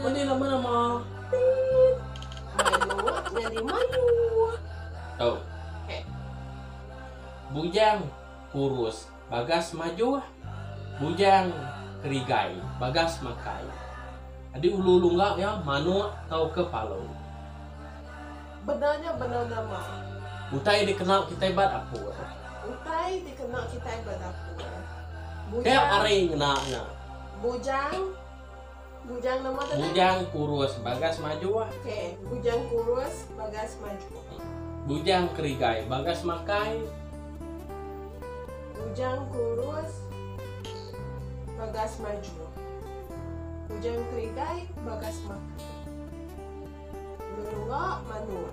Meli nama nama. Tit. Mayuh nyadi mayuh. Tau. Heh. Bujang kurus bagas majuh. Bujang kerigai bagas makai. Adi ulu ulu enggau iya manuk tauka palu. Bendar nya bendar nama. Utai dikena kitai ba dapur. Utai dikena kitai ba dapur. Bujang. Teh ari ngena nya. Bujang. Bujang nama tu. Bujang kurus bagas maju. Okey, bujang kurus bagas maju. Bujang kerigai bagas makai. Bujang kurus bagas maju. Bujang kerigai bagas makai. Lelua manua.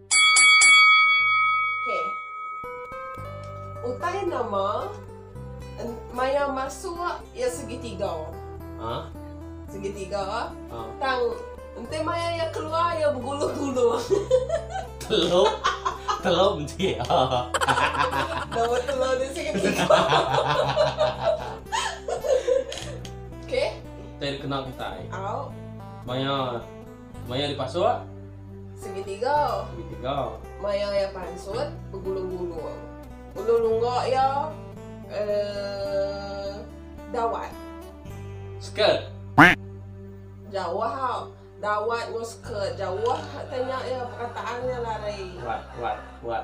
Utai nama maya masuk iya segitiga. Segitiga tang enti maya iya keluar iya begulung-gulung. Telo menti nama telo ti segitiga. Okey. Utai dikena kitai. Au. Maya. Maya dipasuk. Segitiga. Segitiga. Maya iya pansut, begulung-gulung. Ulu lungga iya uh, dawat. Skirt. Jauh ha. Dawat ngu skirt. Jauh tanya iya perkataan iya larai. Kuat, kuat, kuat.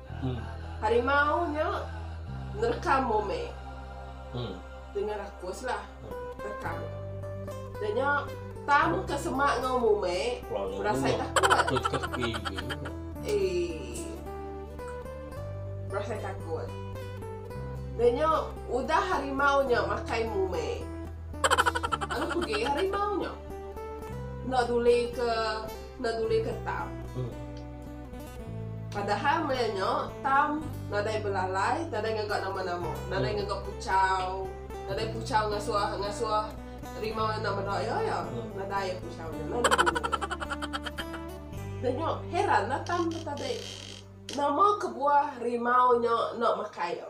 Harimau nya nerka Mome dengan rakus lah reka nya. Da nya Tam ke semak enggau Mome berasai takut. Berasai takut. Da nya udah harimau nya makai Mome lalu pegi harimau nya enda duli ke enda duli ke Tam. Padahal maya nya Tam nadai belalai, nadai ngaga nama-nama, nadai ngaga puchau, nadai puchau ngasuh ngasuh rimau enda meda iya iya. Nadai iya puchau nya lalu buru iya. Udah nya heranlah Tam betadai nama kebuah rimau nya enda makai iya.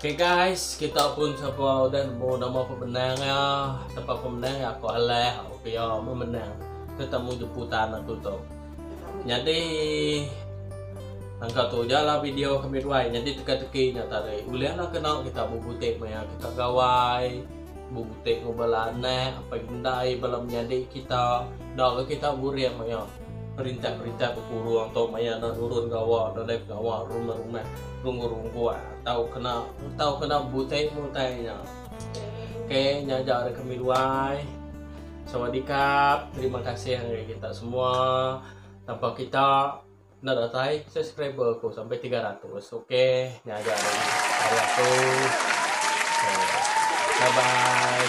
Okay guys, kita pun siapa udah nemu nama pemenang ya. Tempat pemenang ya aku alah okay ya memenang tetamu jemputan aku tu. Jadi Angka tu je lah video kami dua Jadi teka-teki nya tadi Boleh lah kena kita berbutik maya kita gawai Berbutik ngubah lah anak Apa yang kita Dah kita burik maya Perintah-perintah bekurung tu maya enda nurun gawa dalam pengawa rumah-rumah runggu-runggu tau kena tau kena butai-butai nya. Ok nya aja ari kami dua ai. Sawadikap. Terima kasih ngagai kita semua. Tanpa kita enda datai subscriber aku sampai 300. Ok nya aja ari aku. Bye bye.